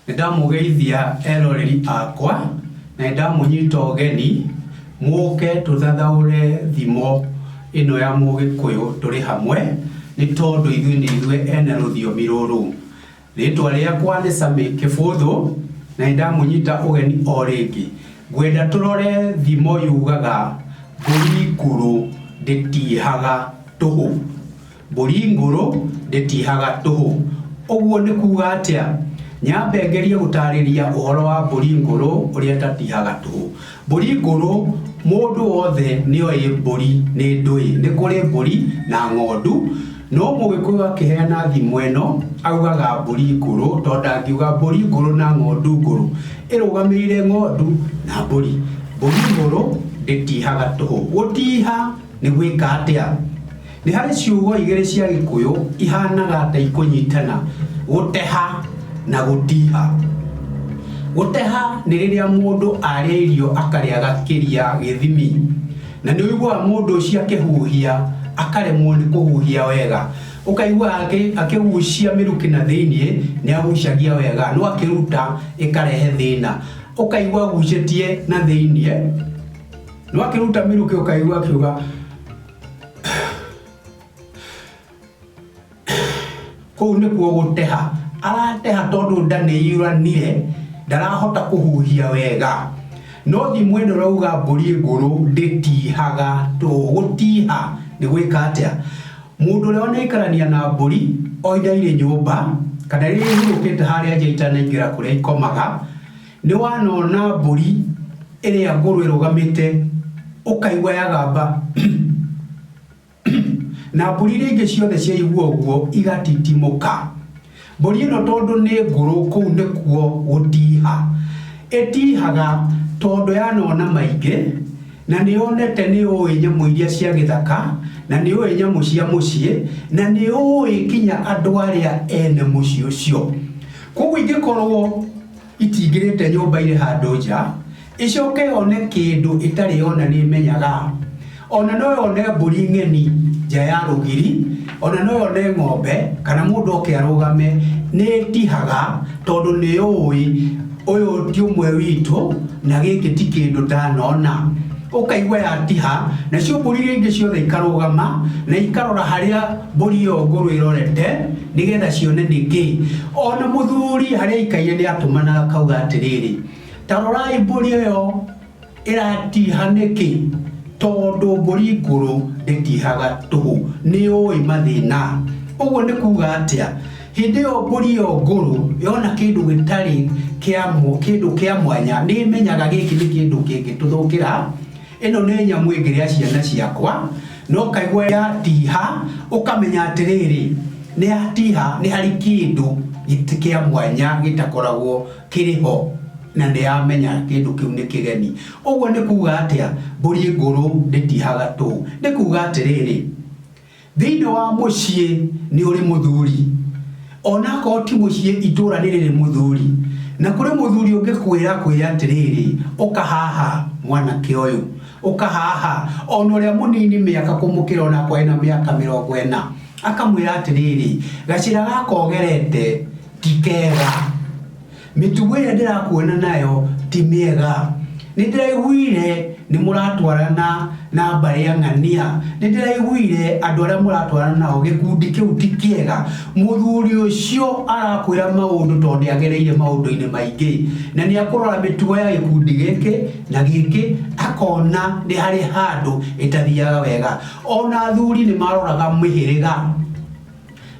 nĩndamũgeithia eroreri akwa na nĩndamũnyita ũgeni mũke tũthathaũre thimo ĩno ya mũgĩkũyũ tũrĩ hamwe nĩ tondũ ithuĩ nĩ ithuĩ ene rũthiomi rũrũ Rĩĩtwa rĩakwa nĩ Sammy Kĩbũthũ, na nĩ ndamũnyita ũgeni o rĩngĩ. Ngwenda tũrore thimo yugaga Mbũri ngũrũ ndĩtiihaga tũhũ. Mbũri ngũrũ ndĩtiihaga tũhũ. Ũguo nĩ kuuga atĩa? Nyambe ngerie gũtaarĩria ũhoro wa mbũri ngũrũ ũrĩa ĩtatiihaga tũhũ. Mbũri ngũrũ, Mũndũ wothe nĩ oĩ mbũri nĩ ndũĩ. Nĩ kũrĩ mbũri na ng'ondu, no Mũgĩkũyũ akĩheana thimo ĩno augaga mbũri ngũrũ tondũ ndangiuga mbũri ngũrũ na ng'ondu ngũrũ. Ĩrũgamĩrĩire ng'ondu na mbũri. Mbũri ngũrũ ndĩtihaga tũhũ. Gũtiha nĩ gwĩka atĩa? Nĩ harĩ ciugo igĩrĩ cia Gĩkũyũ ihanaga ta ikũnyitana, gũteha na gũtiha. Gũteha nĩ rĩrĩa mũndũ arĩa irio akarĩa gakĩria gĩthimi, na nĩ ũiguaga mũndũ ũcio akĩhuhia akaremwo nĩ kũhuhia wega, ũkaigua akĩgucia mĩrukĩ na thĩiniĩ nĩ agucagia wega no akĩruta ĩkarehe thĩna, ũkaigua agucĩtie na thĩiniĩ no akĩruta mĩrukĩ ũkaigua akiuga kũu nĩkuo gũteha arateha tondũ nda nĩ iũranire ndarahota kũhuhia wega no thi mwene ũrauga mbũri ngũrũ ndĩtihaga to gũtiha nĩ gwĩka atĩa mũndũ ũrĩa wanaikarania na mbũri o ihinda irĩ nyũmba kana rĩrĩa ihurũkĩte harĩa nja itanaingĩra kũrĩa ikomaga Nĩwanona mbũri ĩrĩa ngũrũ ĩrũgamĩte, ũkaigua yagamba na mbũri iria ingĩ ciothe ciaigua ũguo igatitimũka. Mbũri ĩno tondũ nĩ ngũrũ kũu nĩkuo gũtiha ĩtihaga tondũ yanona maingĩ na nĩyonete nĩyũĩ nyamũ iria cia gĩthaka na nĩyũĩ nyamũ cia mũciĩ na nĩyũĩ nginya andũ arĩa ene mũciĩ ũcio. Kwoguo ingĩkorwo... Itingĩrĩte nyũmba irĩ handũ nja, ĩcoke yone kĩndũ ĩtarĩ yona nĩĩmenyaga? O na no yone mbũri ng'eni nja ya rũgiri, o na no yone ng'ombe, kana mũndũ oke arũgame, nĩĩtihaga, tondũ nĩyũũĩ ũyũ ti ũmwe witũ, na gĩkĩ ti kĩndũ ndanona. Ũkaigua yatiha, nacio mbũri iria ingĩ ciothe ikarũgama, na ikarora harĩa mbũri ĩyo ngũrũ ĩrorete. nĩgetha cione nĩ kĩ. O na mũthuri harĩa aikaire nĩ atũmanaga akauga atĩrĩrĩ, Ta rorai mbũri ĩyo ĩratiha nĩkĩ, tondũ mbũri ngũrũ ndĩtihaga tũhũ, nĩ yũĩ mathĩna. Ũguo nĩ kuuga atĩa? Hĩndĩ ĩyo mbũri ĩyo ngũrũ yona kĩndũ gĩtarĩ kĩndũ kĩa mwanya, nĩ ĩmenyaga gĩkĩ nĩ kĩndũ kĩngĩtũthũkĩra. Ĩno nĩ nyamũ ĩngĩrĩa ciana ciakwa, na ũkaigua yatiiha, ũkamenya atĩrĩrĩ, nĩ yatiiha nĩ harĩ kĩndũ kĩa mwanya gĩtakoragwo kĩrĩ ho, na nĩ yamenya kĩndũ kĩu nĩ kĩgeni. Ũguo nĩ kuuga atĩa? Mbũri ngũrũ ndĩtiihaga tũũ. Nĩ kuuga atĩrĩrĩ, Thĩinĩ wa mũciĩ nĩ ũrĩ mũthuri, o na akorwo ti mũciĩ, itũũra nĩ rĩrĩ mũthuri. Na kũrĩ mũthuri ũngĩkwĩra akwĩre atĩrĩrĩ, Ũka haha, mwanake ũyũ, ũka haha, o na ũrĩa mũnini mĩaka kũmũkĩra o na akorwo ena mĩaka mĩrongo ĩna, akamwĩra atĩrĩrĩ, Gacĩra gaka ũgerete ti kega. Mĩtugo ĩrĩa ndĩrakuona nayo ti mĩega. Nĩ ndĩraiguire nĩ mũratwarana na mbarĩ ya ng'ania. Nĩ ndĩraiguire andũ arĩa mũratwarana nao gĩkundi kĩu ti kĩega. Mũthuri ũcio arakwĩra maũndũ tondũ nĩ agereire maũndũ-inĩ maingĩ. Na nĩ akũrora mĩtugo ya gĩkundi gĩkĩ na gĩkĩ akona nĩ harĩ handũ ĩtathiaga wega. Ona athuri nĩ maroraga mĩhĩrĩga.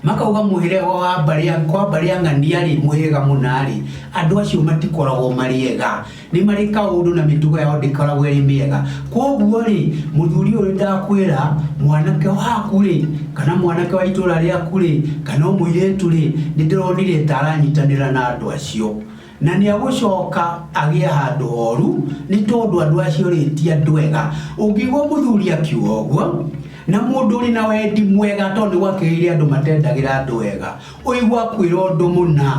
Makauga mũhĩrĩga wa Mbarĩa, kwa Mbarĩa ng'ania-rĩ, mũhĩrĩga mũna-rĩ, andũ acio matikoragwo marĩ ega. Nĩ marĩ kaũndũ na mĩtugo yao ndĩkoragwo ĩrĩ mĩega. Kwoguo-rĩ, mũthuri ũyũ nĩ ndakwĩra, mwanake waku-rĩ, kana mwanake wa itũũra rĩaku-rĩ, kana o mũirĩtu-rĩ, nĩ ndĩronire ta aranyitanĩra na andũ acio. Na nĩagũcoka agĩa handũ horu, nĩ tondũ andũ acio rĩ, ti andũ ega. Ũngĩigua mũthuri akiuga ũguo, na mũndũ ũrĩ na wendi mwega, tondũ nĩgwakĩrĩire andũ matendagĩra andũ wega, ũigua akwĩra ũndũ mũna,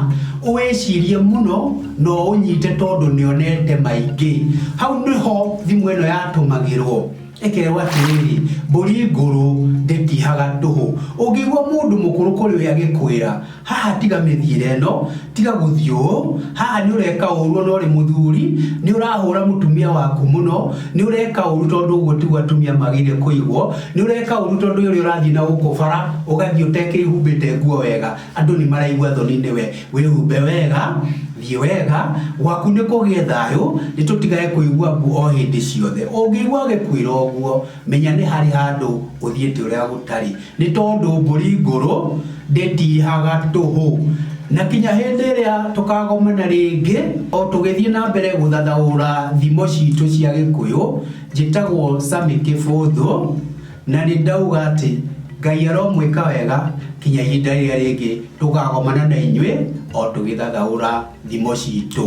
ũwĩcirie mũno na ũũnyite tondũ nĩonete maingĩ. Hau nĩho thimũ ĩno yatũmagĩrwo. Ekerewo atĩrĩrĩ, Mbũri ngũrũ ndĩtihaga tũhũ. Ũngĩigua mũndũ mũkũrũ kũrĩ we agĩkwĩra, Haha tiga mĩthiĩre ĩno, tiga gũthiĩ ũũ, haha nĩ ũreka ũũru o na ũrĩ mũthuri, nĩ ũrahũũra mũtumia waku mũno, nĩ ũreka ũũru tondũ ũguo tiguo atumia magĩrĩire kũigwo, nĩ ũreka ũũru tondũ ũrĩa ũrathiĩ na gũkũ bara, ũgathiĩ ũtekĩĩhumbĩte nguo wega. Andũ nĩ maraigua thoni nĩwe. Wĩhumbe wega, thiĩ wega, gwaku nĩ kũgĩe thayũ, nĩ tũtigage kũigua mbu o hĩndĩ ciothe. Ũngĩigua agĩkwĩra ũguo, menya nĩ harĩ handũ ũthiĩte ũrĩa gũtarĩ. Nĩ tondũ mbũri ngũrũ ndĩtihaga tũhũ. Na kinya hĩndĩ ĩrĩa tũkagomana rĩngĩ, o tũgĩthiĩ na mbere gũthathaũra thimo citũ cia Gĩkũyũ, njĩtagwo Sammy Kĩbũthũ. Na nĩ ndauga atĩ Ngai aromwĩka wega kinya ihinda rĩrĩa rĩngĩ tũkagomana na inyuĩ o tũgĩthathaũra thimo citũ.